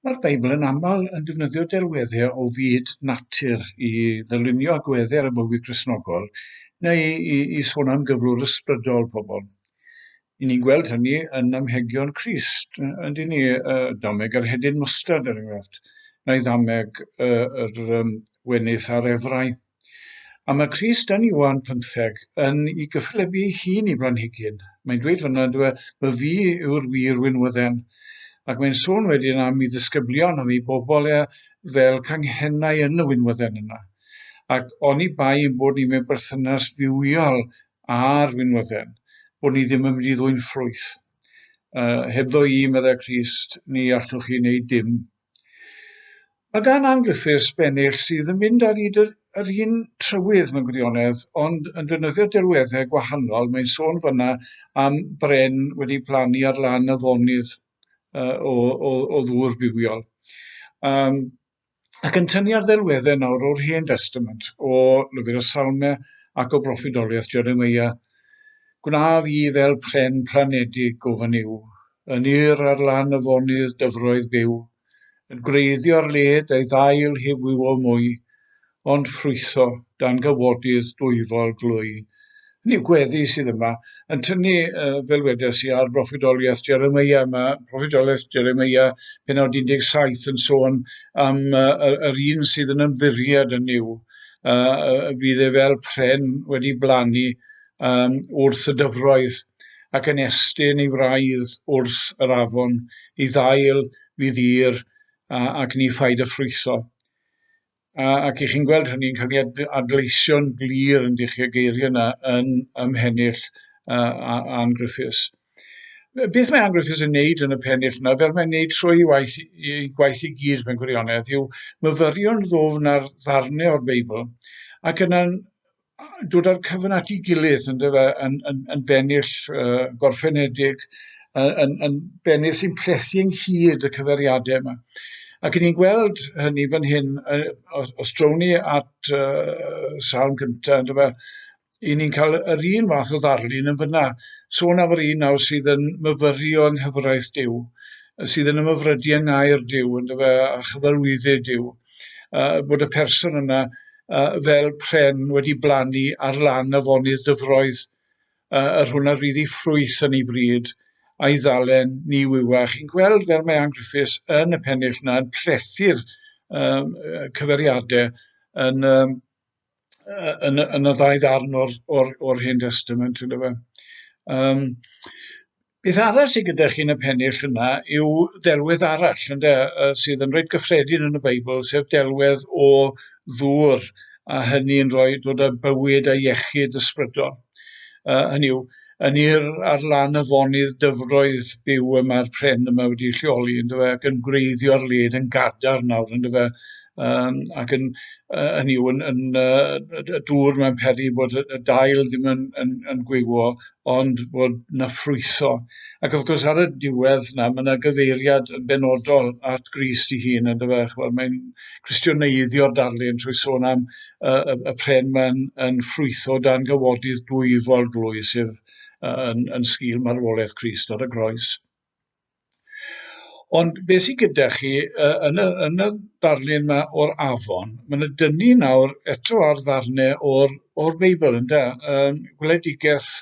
Mae'r Beibl yn aml yn defnyddio delweddau o fyd natur i ddylunio agweddau ar y bywyd Gristnogol neu i, i sôn am gyflwr ysbrydol pobl. I ni'n gweld hynny yn amhegion Crist, yn dyn ni, uh, dameg yr hedyn mwstad er enghraifft, neu ddameg uh, yr um, wenydd ar efrau. A mae Crist yn Iwan pymtheg yn i gyffelebu ei hun i blanhigyn. Mae'n dweud fyna, dwi, y fi yw'r wir winwydden. Ac mae'n sôn wedyn am ei ddisgyblion, am ei bobl e, fel canghennau yn y winwydden yna. Ac oni bai yn bod ni mewn berthynas fywiol â'r winwydden, bod ni ddim yn mynd i ddwy'n ffrwyth. Uh, hebddo i, meddai Crist, ni allwch chi wneud dim. Mae gan Angriffiths bennill sydd yn mynd ar hyd yr un trywydd mewn gwirionedd, ond yn defnyddio delweddau gwahanol, mae'n sôn fan'na am bren wedi plannu ar lan afonydd yy o o o ddŵr bywiol. Yym ac yn tynnu ar ddelweddau nawr o'r Hen Destament, o lyfr y Salme ac o broffwydoliaeth Jeremiah Gwnaf i fel pren planedig o fy niw, Yn yr ar lan afonydd dyfroedd byw, Yn gwreiddio'r led a'i ddail heb wywo mwy, Ond ffrwytho dan gawodydd dwyfol glwy. Hynny yw, gweddi sydd yma, yn tynnu, fel wedes i, ar broffwydoliaeth Jeremia. Mae proffwydoliaeth Jeremia, penod 17, yn sôn am yr un sydd yn ymddiried yn Nuw. yy fydd e fel pren wedi blannu um, wrth y dyfroedd, ac yn estyn ei wraidd wrth yr afon, ei ddail fydd ddir ac ni ffaid y ffrwytho. Ac i chi'n gweld hynny'n cael ei adleisio'n glir yn dych chi y geiriau yna yn ymhennill Anne Griffiths. Beth mae Anglo Fizz yn wneud yn y pennill yna, fel mae'n wneud trwy ei waith, ei gwaith i gyd mewn gwirionedd, yw myfyrio'n ddwfn ar ddarnau o'r Beibl, ac yna'n dod â'r cyfan at ei gilydd yn, dyfa, yn, yn, yn bennill uh, gorffenedig, yn, yn, yn bennill sy'n plethu ynghyd y cyferiadau yma. Ac ni'n gweld hynny fan hyn, os, os drown ni at uh, sawl gyntaf, dyfa, i ni'n cael yr un fath o ddarlun yn fyna. Sôn am yr un nawr sydd yn myfyri o ynghyfraith Dyw, sydd yn ymyfrydi yng ngair Dyw, yn dyfa, a chyfarwyddu Dyw, uh, bod y person yna uh, fel pren wedi blannu ar lan afonydd dyfroedd, uh, yr hwnna ryddi ffrwyth yn ei bryd, a'i ddalen ni wywa. Chi'n gweld fel mae Ann Griffiths yn y pennill yna yn plethu'r um, cyferiadau yn um, uh, yn, y, yn y ddau ddarn o'r, or, or Hen Testament, ynddo fe. Um, beth arall sydd gyda chi yn y pennill yna yw delwedd arall ynddo, uh, sydd yn rhaid gyffredin yn y Beibl, sef delwedd o ddŵr, a hynny yn rhoi dod â bywyd a iechyd ysbrydol. Uh, hynny yw, yn i'r ar lan y fonydd dyfroedd byw y mae'r pren yma wedi lleoli, yn dyfa, ac yn gwreiddio'r led yn gadar nawr, yn dyfa, um, ac yn, uh, yn yw, yn, yn, uh, y dŵr mae'n peri bod y dail ddim yn, yn, yn gwywo, ond bod na ffrwytho. Ac wrth gwrs ar y diwedd na, mae yna gyfeiriad yn benodol at Grist i hun, yn dyfa, chwbod, mae'n cwestiyneiddio'r darlun trwy sôn am y, y, y pren mae'n yn ffrwytho dan gawodydd dwyfol glwy, sef yn, yn sgil marwolaeth Christ ar y groes. Ond beth sy'n gyda chi yn y, yn y darlun yma o'r afon, mae'n y dynu nawr eto ar ddarnau o'r, or Beibl, ynddo, um, gweledigaeth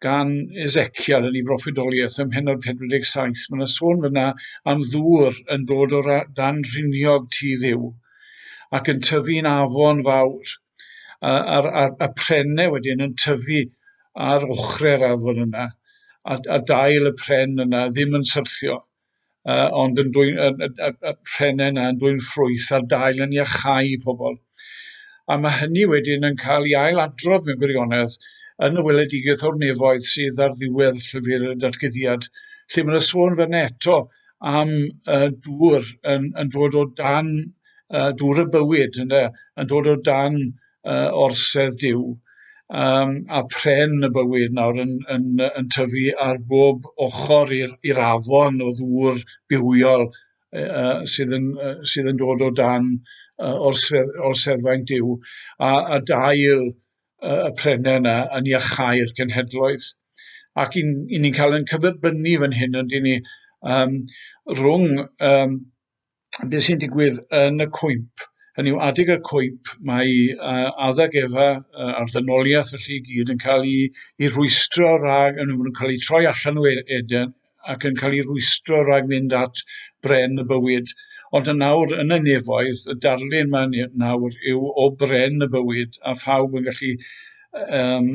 gan Ezekiel yn ei broffwydoliaeth ym mhennod 47. Mae yna sôn fyna am ddŵr yn dod o dan rhiniog tu ddiw ac yn tyfu'n afon fawr. A, a'r, a, a prenne wedyn yn tyfu ar ochrau'r afon yna, a, a dail y pren yna ddim yn syrthio. uh, ond yn dwy'n, y, y, y, y rhennau yna yn dwy'n ffrwyth a'r dail yn iachau pobl. A mae hynny wedyn yn cael ei ail adrodd mewn gwirionedd yn y weledigaeth o'r nefoedd sydd ar ddiwedd llyfr y datgyddiad, lle mae'n sôn fan eto am uh, dŵr yn, yn dod o dan uh, dŵr y bywyd, yn, yn dod o dan uh, orsedd Duw, um, a pren y bywyd nawr yn, yn, yn tyfu ar bob ochr i'r afon o ddŵr bywiol uh, sydd, yn, uh, sydd yn dod o dan uh, orsedd, orseddfaint Duw, a, a dail uh, y prennau yna yn iachau'r cenhedloedd. Ac i, i ni'n cael yn cyferbynnu fan hyn, ond i ni, um, rhwng um, beth sy'n digwydd yn y cwymp. Hynny yw, adeg y cwymp, mae uh, adeg efa uh, a'r ddynoliaeth felly i gyd yn cael ei, ei rwystro rhag, yn nhw'n cael ei troi allan o e-, Eden ac yn cael ei rwystro rhag mynd at bren y bywyd. Ond yn nawr, yn y nefoedd, y darlun mae'n nawr yw o bren y bywyd a phawb yn gallu um,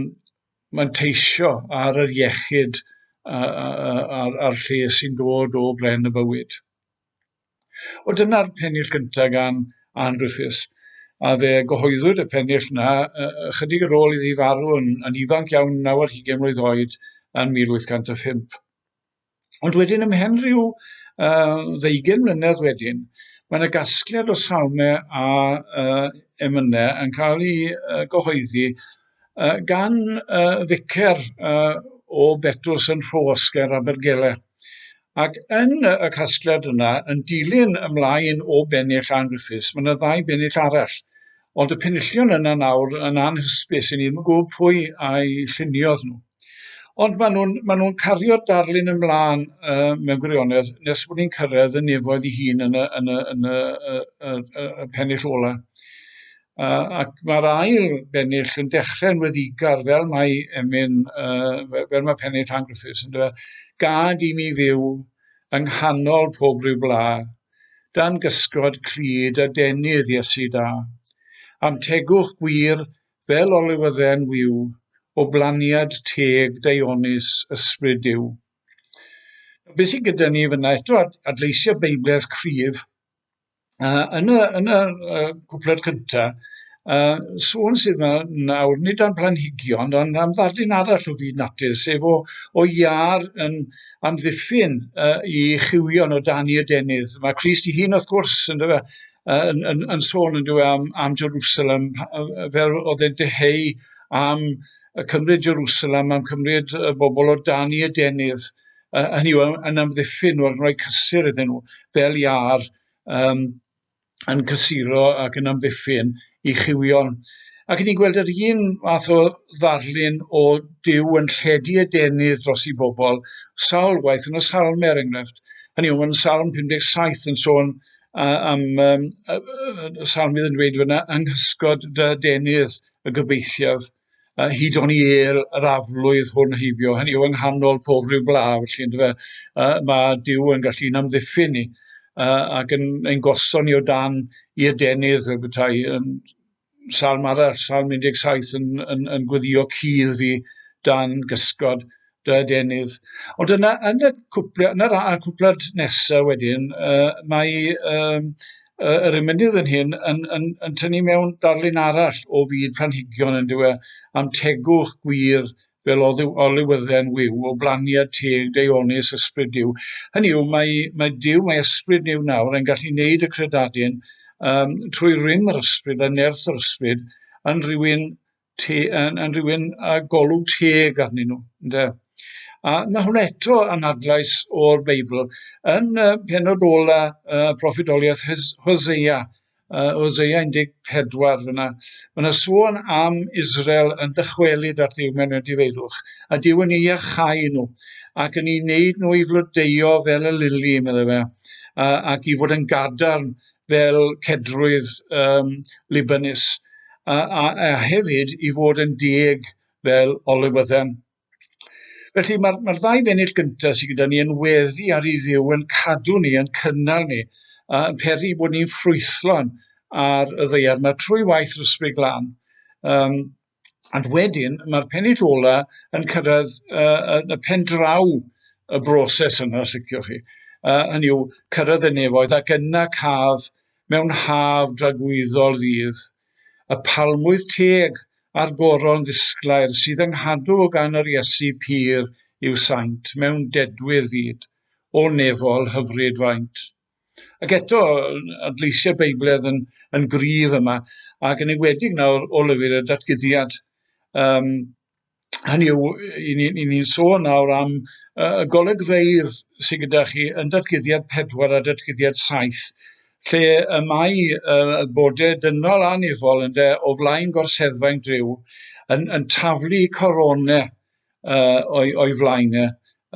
manteisio ar yr iechyd a'r, ar, ar, ar lle sy'n dod o bren y bywyd. O dyna'r pennill gyntaf gan Ann Griffiths, a fe gyhoeddwyd y pennill yna ychydig ar ôl iddi farw yn, yn ifanc iawn naw ar hugain mlwydd oed yn 1805. Ond wedyn ymhen rhyw uh, ddeugen mlynedd wedyn, mae yna gasgliad o salmau a uh, emynau yn cael ei uh, gyhoeddi Uh, gan uh, ficer uh, o Betws yn Rhos ger Abergele. Ac yn y casgliad yna, yn dilyn ymlaen o bennill Ann Griffiths, mae yna ddau bennill arall. Ond y penillion yna nawr yn anhysbys i ni ddim yn gwybod pwy a'i lluniodd nhw. Ond maen nhw'n ma nhw cario'r darlun ymlaen uh, mewn gwirionedd nes bod ni'n cyrraedd y nefoedd ei hun yn y, yn y, yn y, y, y, y, y pennill ola. Yy ac ma'r ail bennill yn dechre'n weddigar fel mae emyn yy fe- fel ma' pennill Llan Griffiths yndyw e? Gad i mi fyw yng nghanol pob ryw bla, dan gysgod clyd a denydd Iesu da. A'm tegwch gwir fel olywydden wiw, o blaniad teg daeonus Ysbryd Duw. Be' sy gyda ni fyn 'na eto ad- adleisia Beibledd cryf Yy yn y yn yr yy cwpled cynta yy sôn sydd yma nawr nid am blanhigion ond am ddadyn arall o fyd natur sef o o iâr yn amddiffyn yy i chywion o dan i adenydd. Mae Crist ei hun wrth gwrs yn dyfe yy yn yn yn sôn yn dyw e am am Jerusalem yy yy fel oedd e'n dyheu am y cymryd Jerusalem am cymryd y bobl o dan i adenydd uh, hynny yw, yn amddiffyn nhw, yn rhoi cysur iddyn nhw, fel iar um, yn cysuro ac yn amddiffyn i chiwion. Ac ni'n gweld yr un math o ddarlun o Dyw yn lledu y denydd dros i bobl sawl waith yn y salm er enghraifft. Hynny yw, mae'n salm 57 yn sôn uh, am um, y salmydd yn dweud fyna, anghysgod dy denydd y gobeithiaf uh, hyd o'n i el yr aflwydd hwn heibio, hynny yw yng nghanol pob rhyw bla, felly ynddo fe, uh, mae Dyw yn gallu yn amddiffyn ni uh, ac yn ein goson ni o dan i adenydd fel bethau. Um, salm arall, salm 17 yn, yn, yn gweddio cudd fi dan gysgod Da, Denydd. Ond yna, yn y cwpla, yn y cwplad nesaf wedyn, uh, mae um, uh, yr ymenydd yn hyn yn, yn, yn tynnu mewn darlun arall o fyd planhigion yn dywe, am tegwch gwir fel olywydden wyw, o blaniad teg, deonus, ysbryd diw. Hynny yw, mae, mae diw, mae ysbryd diw nawr yn gallu neud y credadun um, trwy rym yr ysbryd a nerth yr ysbryd yn rhywun te, yn, yn rhywun a golwg teg arnyn nhw, ynde? A mae hwn eto yn adlais o'r Beibl. Yn y penod ola y proffidoliaeth Hosea, uh, Hosea 14 fyna, mae yna sôn am Israel yn dychwelyd at ddiw mewn difeirwch, a diw yn ei achau nhw, ac yn ei wneud nhw i flodeuo fel y lili, meddai fe, ac i fod yn gadarn fel cedrwydd um, Libanus, a, a, a hefyd i fod yn dieg fel olywydden. Felly mae'r mae ddau fennill gyntaf sydd gyda ni yn weddi ar ei ddiw yn cadw ni, yn cynnal ni, a yn peri bod ni'n ffrwythlon ar y ddeiar. Mae trwy waith yr ysbryd glân, um, Ond wedyn, mae'r pennill ola yn cyrraedd uh, y pen draw y broses yna, os licioch chi. Uh, hynny yw, cyrraedd y nefoedd ac yna caf mewn haf dragwyddol ddydd, y palmwydd teg a'r goron ddisglair sydd yng nghadw o gan yr Iesu pur i'w saint mewn dedwydd fyd, o nefol hyfryd faint. Ac eto, adleisiau Beibledd yn, yn gryf yma, ac yn enwedig nawr o lyfr y datguddiad. Um, hynny yw, i ni'n ni, sôn nawr am uh, y golegfeidd sydd gyda chi yn datguddiad 4 a datguddiad 7, lle y mae uh, bode dynol anifol ynde, o flaen gorseddfa yn driw, yn, yn taflu coronau uh, o'i, oi flaen e,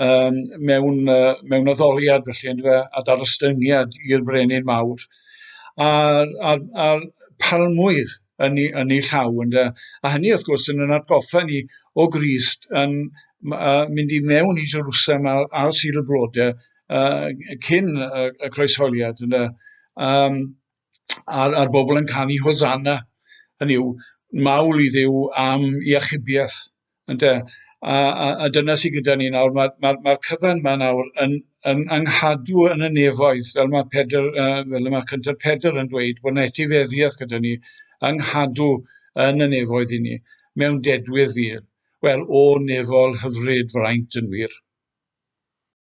um, mewn, uh, mewn addoliad felly, yn fe, a dar ostyngiad i'r brenin mawr. A'r, ar, ar palmwydd yn ei, yn ei llaw. Yn de. A hynny, wrth gwrs, yn yn atgoffa ni o Grist yn uh, mynd i mewn i Jerusalem ar, ar Sil y Blodau uh, cyn y, y croesholiad. Yn de. Um, a'r a'r bobl yn canu Hosanna, hynny yw, mawl i Dduw am i achubiaeth, ynde? A, a, a dyna sydd gyda ni nawr, mae'r ma, ma, ma cyfan yma nawr yn, yn anghadw yn y nefoedd, fel mae Pedr, uh, fel y mae Cyntaf Pedr yn dweud, bod yna etifeddiaeth gyda ni, anghadw yn y nefoedd i ni, mewn dedwydd fyr. Wel, o nefol hyfryd fraint yn wir.